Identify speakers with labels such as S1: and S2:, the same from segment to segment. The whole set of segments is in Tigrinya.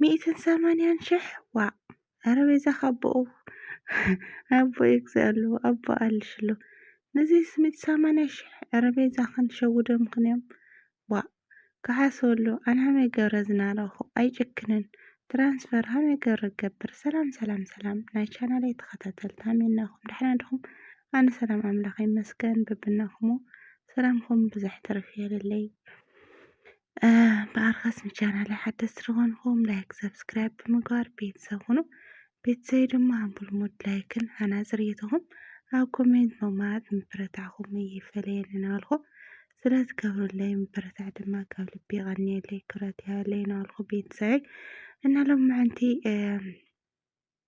S1: ሚእትን ሰማንያን ሽሕ ዋእ ኣረ ቤዛኻ ኣቦኡ ኣቦ ይግዛ ኣሎ ኣቦ ኣልሽ ኣሎ ነዚ ስሚት ሰማንያ ሽሕ ኣረ ቤዛኽን ሸውዶምኽን እዮም ዋእ ክሓስበሉ ኣነ ሃመይ ገብረ ዝናረኹ ኣይጭክንን ትራንስፈር ሃመይ ገብረ ገብር ሰላም ሰላም ሰላም ናይ ቻናለይ ተኸታተልቲ ሃሜናኹም ደሕና ድኹም ኣነ ሰላም ኣምላኽ ይመስገን ብብናኹሞ ሰላምኹም ብዙሕ ትርፍ የለለይ ብኣርኸስ ንቻናለይ ሓደስቲ ዝኾንኹም ላይክ ሰብስክራይብ ብምግባር ቤተሰብ ሁኑ ቤተሰብ ድማ ብልሙድ ላይክን ሃናፂ ርኢቶኹም ኣብ ኮሜንት መማት ምብረታዕኹም ይፈለየን እናበልኩ ስለዝገብሩለይ ምብረታዕ ድማ ካብ ልቢ ቀኒየለይ ክብረት ይሃለይ እናበልኩ ቤተሰበይ እና ሎም ምዕንቲ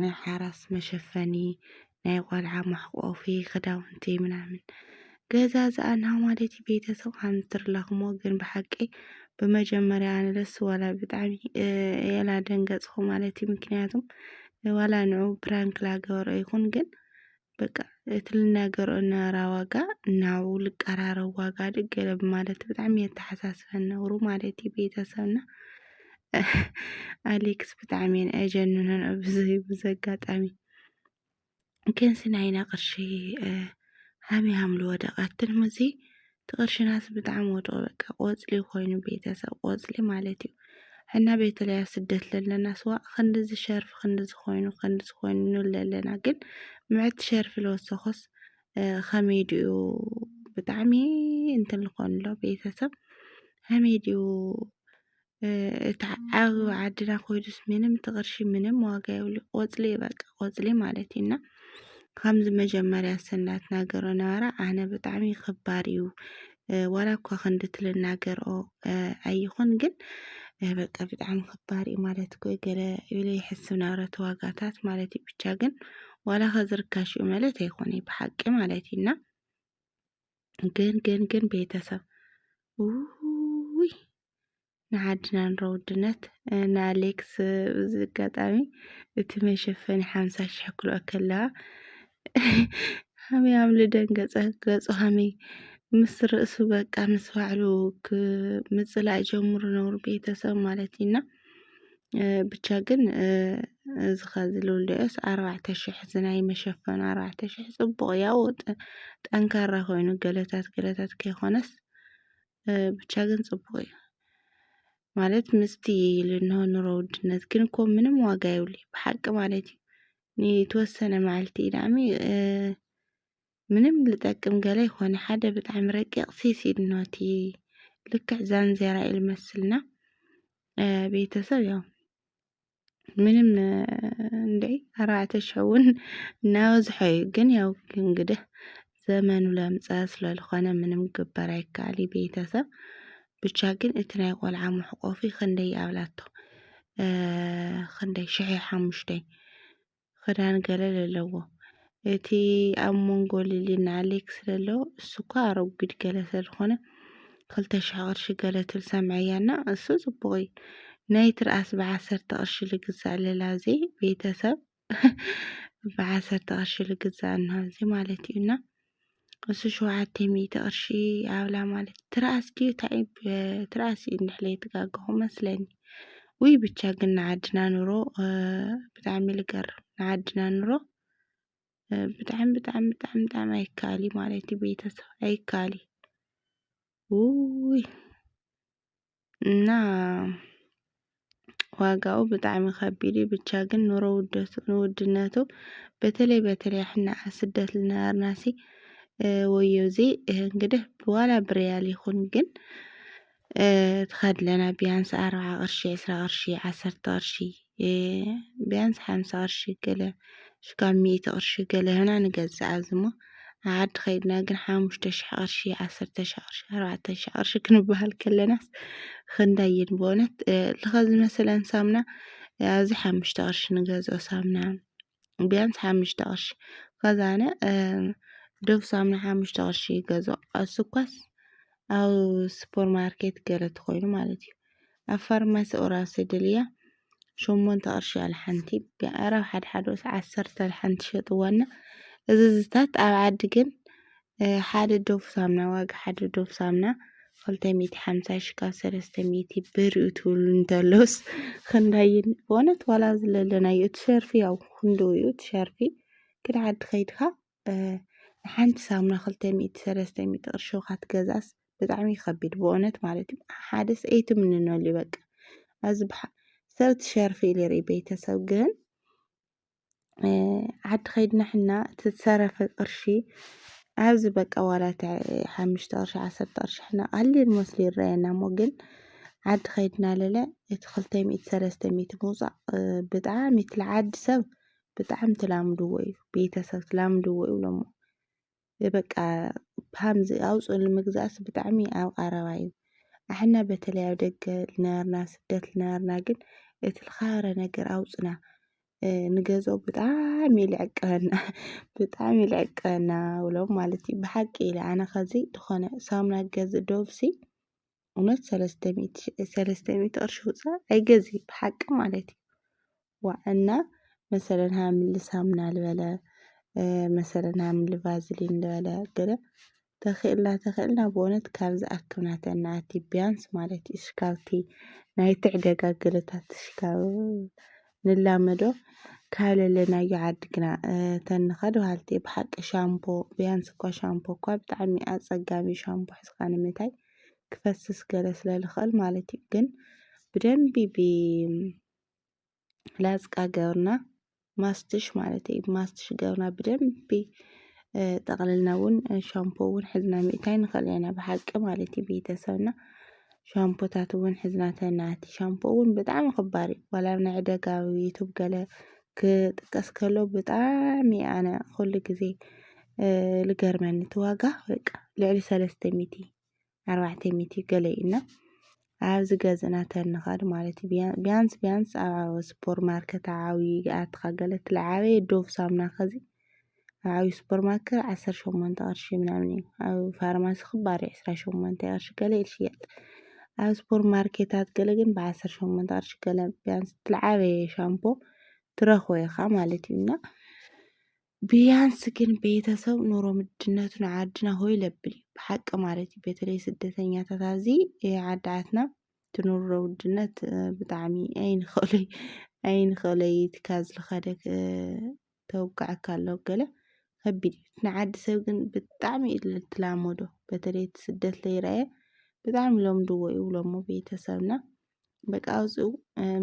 S1: ናይ ሓራስ መሸፈኒ ናይ ቆልዓ መሕቆፊ ክዳውንቲ ምናምን ገዛዝኣ ናማለቲ ቤተሰብ ኣንትርላኹሞ ግን ብሓቂ ብመጀመርያ ኣነ ደስ ዋላ ብጣዕሚ የላ ደንገጽኹ ማለት እዩ ምክንያቱም ዋላ ንዑ ፕራንክ ላገበሮ ይኹን ግን በቃ እቲ ልናገሮ እነበራ ዋጋ ናብኡ ልቀራረብ ዋጋ ድግ ገለ ብማለት ብጣዕሚ የተሓሳስበን ነብሩ ማለት እዩ ቤተሰብና ኣሌክስ ብጣዕሚ እየን ኣጀንነን ኣብዚ ብዚ ኣጋጣሚ ክንሲ ናይና ቅርሺ ሃሚ ሃምሉ ወደቐትን ሙዚ እቲ ቅርሽናስ ብጣዕሚ ወድቑ በቃ ቆፅሊ ኮይኑ ቤተሰብ ቆፅሊ ማለት እዩ እና ቤተለይ ኣብ ስደት ለለና ስዋእ ክንድዚ ሸርፊ ክንድዚ ኮይኑ ክንድዚ ኮይኑ ንብል ለለና ግን ምዕት ሸርፊ ለወሰኾስ ከመይ ድኡ ብጣዕሚ እንትን ልኾንሎ ቤተሰብ ከመይ ድኡ እታ ዓብ ዓድና ኮይዱስ ምንም እቲ ቅርሺ ምንም ዋጋ የብሉ ቆጽሊ እዩ በቃ ቆጽሊ ማለት እዩ እና ከምዚ መጀመርያ ሰብ እንዳትናገሮ ነበረ ኣነ ብጣዕሚ ከባድ እዩ ዋላ እኳ ክንዲ ትልናገርኦ ኣይኹን ግን በቃ ብጣዕሚ ከባድ እዩ ማለት እኮ ገለ ኢለ ይሕስብ ነበረ እቲ ዋጋታት ማለት እዩ ብቻ ግን ዋላ ከዚ ርካሽ እዩ ማለት ኣይኮነ ብሓቂ ማለት እዩ እና ግን ግን ግን ቤተሰብ ውይ ንዓድና ንሮ ውድነት ንኣሌክስ ብዝጋጣሚ እቲ መሸፈኒ ሓምሳ ሽሕ ክልኦ ከለዋ ሃመይ ኣምሊ ደንገጸ ገጹ ሃመይ ምስ ርእሱ በቃ ምስ ባዕሉ ምጽላእ ጀምሩ ነውሩ ቤተሰብ ማለት እዩና ብቻ ግን እዚ ኸዚ ልውልዮስ ኣርባዕተ ሽሕ እዚ ናይ መሸፈኑ ኣርባዕተ ሽሕ ጽቡቕ ያው ጠንካራ ኮይኑ ገለታት ገለታት ከይኮነስ ብቻ ግን ጽቡቅ እዩ ማለት ምስቲ ልንሆ ኑሮ ውድነት ግን እኮ ምንም ዋጋ የብሉ ብሓቂ ማለት እዩ ንተወሰነ መዓልቲ ኢዳሚ ምንም ልጠቅም ገለ ይኾነ ሓደ ብጣዕሚ ረቂቕ ሲሲ ድኖቲ ልክዕ ዛንዜራ ኢልመስልና ቤተሰብ ያው ምንም እንዴ ኣርባዕተ ሽሕ እውን እናበዝሖ እዩ ግን ያው እንግዲህ ዘመኑ ለምፀ ስለልኾነ ምንም ግበር ኣይከኣል እዩ ቤተሰብ ብቻ ግን እቲ ናይ ቆልዓ መሕቆፊ ክንደይ ኣብላቶ ክንደይ ሽሕ ሓሙሽተይ ኽዳን ገለ ለለዎ እቲ ኣብ መንጎ ሊሊና ኣሌክስ ለሎ እሱ እኳ ኣረጒድ ገለ ስለ ዝኾነ ክልተ ሽሕ ቅርሺ ገለ ትብል ሰምዐያ እና እሱ ጽቡቕ እዩ ናይ ትርኣስ ብዓሰርተ ቅርሺ ልግዛእ ለላ እዚ ቤተሰብ ብዓሰርተ ቅርሺ ልግዛእ እንሆ እዚ ማለት እዩ እና እሱ ሸውዓተ ሚእቲ ቅርሺ ኣብላ ማለት ትርኣስ ድዩ እንታይ ትርኣስ እዩ እንድሕር ዘይተጋገኹ መስለኒ ውይ ብቻ ግን ንዓድና ኑሮ ብጣዕሚ ልገርም ንዓድና ኑሮ ብጣዕሚ ብጣዕሚ ብጣዕሚ ብጣዕሚ ኣይከኣል እዩ ማለት እዩ ቤተሰብ ኣይከኣል እዩ ውይ እና ዋጋኡ ብጣዕሚ ከቢድ እዩ። ብቻ ግን ኑሮ ውደቱ ንውድነቱ በተለይ በተለይ ሕና ስደት ልነበርናሲ ወዮ እዚ እንግዲህ ብዋላ ብርያል ይኹን ግን ትኸድለና ቢያንስ ኣርብዓ ቅርሺ ዕስራ ቅርሺ ዓሰርተ ቅርሺ ብያንስ ሓምሳ ቅርሺ ገለ ክሳብ ሚእቲ ቅርሺ ገለ ሂብና ንገዝኣ እዚ እሞ ኣብ ዓዲ ከይድና ግን ሓሙሽተ ሽሕ ቅርሺ ዓሰርተ ሽሕ ቅርሺ ኣርባዕተ ሽሕ ቅርሺ ክንበሃል ከለናስ ክንደይ እዩ ብእውነት ልኸ ዝመሰለን ሳሙና ኣብዚ ሓሙሽተ ቅርሺ ንገዝኦ ሳሙና ቢያንስ ሓሙሽተ ቅርሺ ከዛነ ዶብ ሳሙና ሓሙሽተ ቅርሺ ይገዝኦ ኣብ ስኳስ ኣብ ሱፐር ማርኬት ገለ ተኾይኑ ማለት እዩ ኣብ ፋርማሲ ኦራል ስድልያ ሸሞንተ ቅርሺ ኣልሓንቲ ብዕራብ ሓድሓደ ስ ዓሰርተ ኣልሓንቲ ሸጥዋና እዚ ዝታት ኣብ ዓዲ ግን ሓደ ዶብ ሳምና ዋጋ ሓደ ዶብ ሳምና ክልተ ሚእቲ ሓምሳ ሽሕ ካብ ሰለስተ ሚእቲ ብር እዩ ትብሉ እንተሎስ ክንደይ በእውነት ዋላ ዝለለናዮ እቲ ሸርፊ ያው ክንድኡ እዩ እቲ ሸርፊ ግን ዓዲ ከይድካ ንሓንቲ ሳምና ክልተ ሚእቲ ሰለስተ ሚእቲ ቅርሺ ካትገዛስ ብጣዕሚ ይኸቢድ በእውነት ማለት እዩ ሓደስ ኣይትምንነሉ በቃ እዚ ብሓ ሰብቲ ሸርፊ ኢለ ርኢ ቤተሰብ ግን ዓዲ ኸይድና ሕና ትዝተረፈ ቕርሺ ኣብዚ በቃ ዋላት ሓምሽተ ቕርሺ ዓሰርተ ቕርሺ ሕና ቓሊል መስሉ ይረየና እሞ ግን ዓዲ ኸይድና ለለ እቲ ኽልተይ ሚእቲ ሰለስተ ሚእቲ ምውጻእ ብጣዕሚ እቲ ልዓዲ ሰብ ብጣዕሚ ትላምድዎ እዩ ቤተሰብ ትላምድዎ ይብሎሞ በቃ ፓምዚ ኣውፅእሉ ምግዛእሲ ብጣዕሚ ኣብ ቐረባ እዩ። ኣሕና በተለይ ኣብ ደገ ልነበርና ስደት ልነበርና ግን እቲ ልኸበረ ነገር ኣውፅና ንገዝኦ ብጣዕሚ እዩ ልዕቀበና ብጣዕሚ እዩ ልዕቀበና ብሎም ማለት እዩ። ብሓቂ ኢለ ኣነ ኸዚ ዝኾነ ሳሙና ክገዝእ ዶቭሲ እውነት ሰለስተ ሚእቲ ሰለስተ ሚእቲ ቅርሺ ኣውፂኣ ኣይገዝእን ብሓቂ ማለት እዩ። ዋዕና መሰለን ሃምሊ ሳምና ልበለ መሰለን ሃምሊ ቫዝሊን ልበለ ገለ ተኺእልና ተኺእልና ብወነት ካብዚ ኣክብናተና ኣቲ ቢያንስ ማለት እዩ ሽካብቲ ናይ ትዕደጋ ገለታት ሽካብ ንላመዶ ካለለናዮ ዓዲ ግና ተንኸዶ ሃልቲ ብሓቂ ሻምፖ ቢያንስ እኳ ሻምፖ እኳ ብጣዕሚ ኣጸጋሚ ሻምፖ ሕዝካ ንምታይ ክፈስስ ገለ ስለ ልኽእል ማለት እዩ ግን ብደንቢ ብ ላዝቃ ገብርና ማስትሽ ማለት እዩ ማስትሽ ገብርና ብደንቢ ጠቕልልና እውን ሻምፖ እውን ሕዝና ምእታይ ንኽእል ኢና ብሓቂ ማለት እዩ ቤተሰብና ሻምፖታት እውን ሕዝና ተናቲ ሻምፖ እውን ብጣዕሚ ክባር እዩ ዋላ ኣብ ናይ ዕደጋ ዩቱብ ገለ ክጥቀስ ከሎ ብጣዕሚ ኣነ ኩሉ ግዜ ልገርመኒ እቲ ዋጋ በቃ ልዕሊ ሰለስተ ሚእቲ ኣርባዕተ ሚእቲ ገለ እዩ እና ኣብዚ ገዝእና ተንኸድ ማለት እዩ ቢያንስ ቢያንስ ኣብ ሱፐር ማርኬት ዓብዪ ኣትኻ ገለ ትለዓበየ ዶብ ሳሙና ከዚ ኣብ ዓብዪ ሱፐር ማርኬት ዓሰርተ ሸሞንተ ቅርሺ ምናምን እዩ ኣብ ፋርማሲ ክባር እዩ ዕስራ ሸሞንተ ቅርሺ ገለ እዩ ዝሽየጥ ኣብ ሱፐር ማርኬታት ገለ ግን ብዓሰርተ ሸሞንተ ቅርሺ ገለ ቢያንስ ትለዓበየ ሻምፖ ትረኽቦ ኢኻ ማለት እዩ እና ብያንስ ግን ቤተሰብ ኑሮ ምድነቱ ንዓድና ሆይ ለብል እዩ ብሓቂ ማለት እዩ በተለይ ስደተኛታት ኣብዚ ዓድዓትና ትኑሮ ውድነት ብጣዕሚ ኣይንኸእለይ ኣይንኸእለይ ትካዝ ልኸደ ተውቃዕካ ኣለዉ ገለ ከቢድ እዩ ንዓዲ ሰብ ግን ብጣዕሚ ትላመዶ በተለይ ስደት ለይረአየ ብጣዕሚ ለምድዎ ይብሎሞ ቤተሰብና በቃ ኣብኡ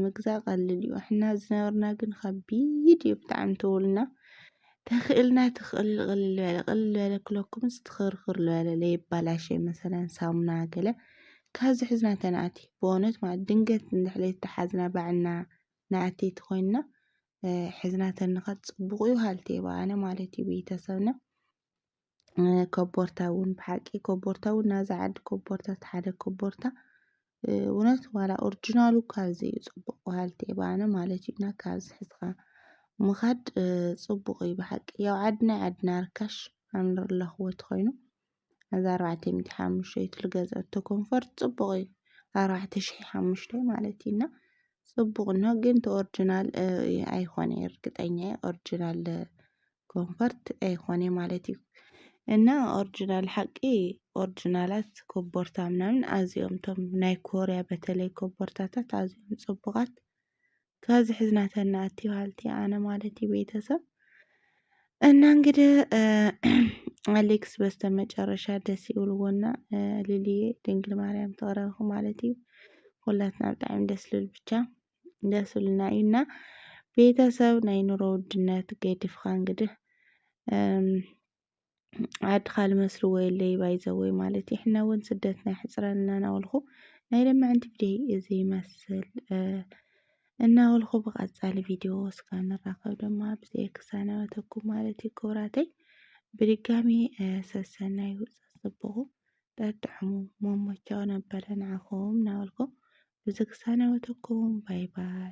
S1: ምግዛእ ቀልል እዩ ሕና ዝነበርና ግን ከቢድ እዩ ብጣዕሚ እንተበሉና ተኽእልና ትኽእል ቅልል በለ ቅልል በለ ክለኩምስ ትኽርክር ዝበለ ለይባላሸ መሰለን ሳሙና ገለ ካብዚ ሕዝና ተናእቲ ብእውነት ማለት ድንገት እንድሕለይ ተሓዝና ባዕልና ናእተይቲ ኮይንና ሕዝና ተንኸት ፅቡቕ እዩ ሃልቲ ባኣነ ማለት እዩ ቤተሰብና ኮቦርታ እውን ብሓቂ ኮቦርታ እውን ናዛ ዓዲ ኮቦርታ ተሓደ ኮቦርታ እውነት ዋላ ኦርጅናሉ እኳ ዘይ ጽቡቕ በሃልቲ እየ ባነ ማለት እዩ እና ካብዚ ሕዝኻ ምኻድ ጽቡቕ እዩ ብሓቂ ያው ዓድና ዓድና ርካሽ ኣንር ኣለኽዎት ኾይኑ ነዛ ኣርባዕተ ሚእቲ ሓሙሽተ ልገዝአቶ ኮንፈርት ጽቡቕ እዩ ኣርባዕተ ሽሕ ሓሙሽተ ማለት እዩ እና ጽቡቕ እኖ ግን ኦርጅናል ኣይኾነ እርግጠኛ እየ ኦርጅናል ኮንፈርት ኣይኾነ ማለት እዩ እና ኦሪጂናል ሓቂ ኦሪጂናላት ኮቦርታ ምናምን ኣዝዮም እቶም ናይ ኮርያ በተለይ ኮቦርታታት ኣዝዮም ጽቡቓት ካብዚ ሕዝና ተናእቲ በሃልቲ ኣነ ማለት እዩ ቤተሰብ እና እንግዲህ ኣሌክስ በስተመጨረሻ ደስ ይብልዎና ልልየ ድንግል ማርያም ተቕረብኹ ማለት እዩ ኩላትና ብጣዕሚ ደስ ልብል ብቻ ደስልና እዩ እና ቤተሰብ ናይ ኑሮ ውድነት ገድፍኻ እንግዲህ ዓድኻ ልመስልዎ የለይ ባይዘወይ ማለት እዩ ሕና እውን ስደትና ይሕፅረን እናናበልኩ ናይ ለማዕንቲ ቪድዮ እዚ ይመስል እናበልኩ ብቐፃሊ ቪድዮ እስከ ንራኸብ ድማ ብዘይ ክሳነበተኩም ማለት እዩ ክብራተይ ብድጋሚ ሰሰናዩ ፀፅብቑ ጠጥዕሙ መሞቻው ነበረ ንዓኹም እናበልኩ እዚ ክሰናበተኩም ባይ ባይ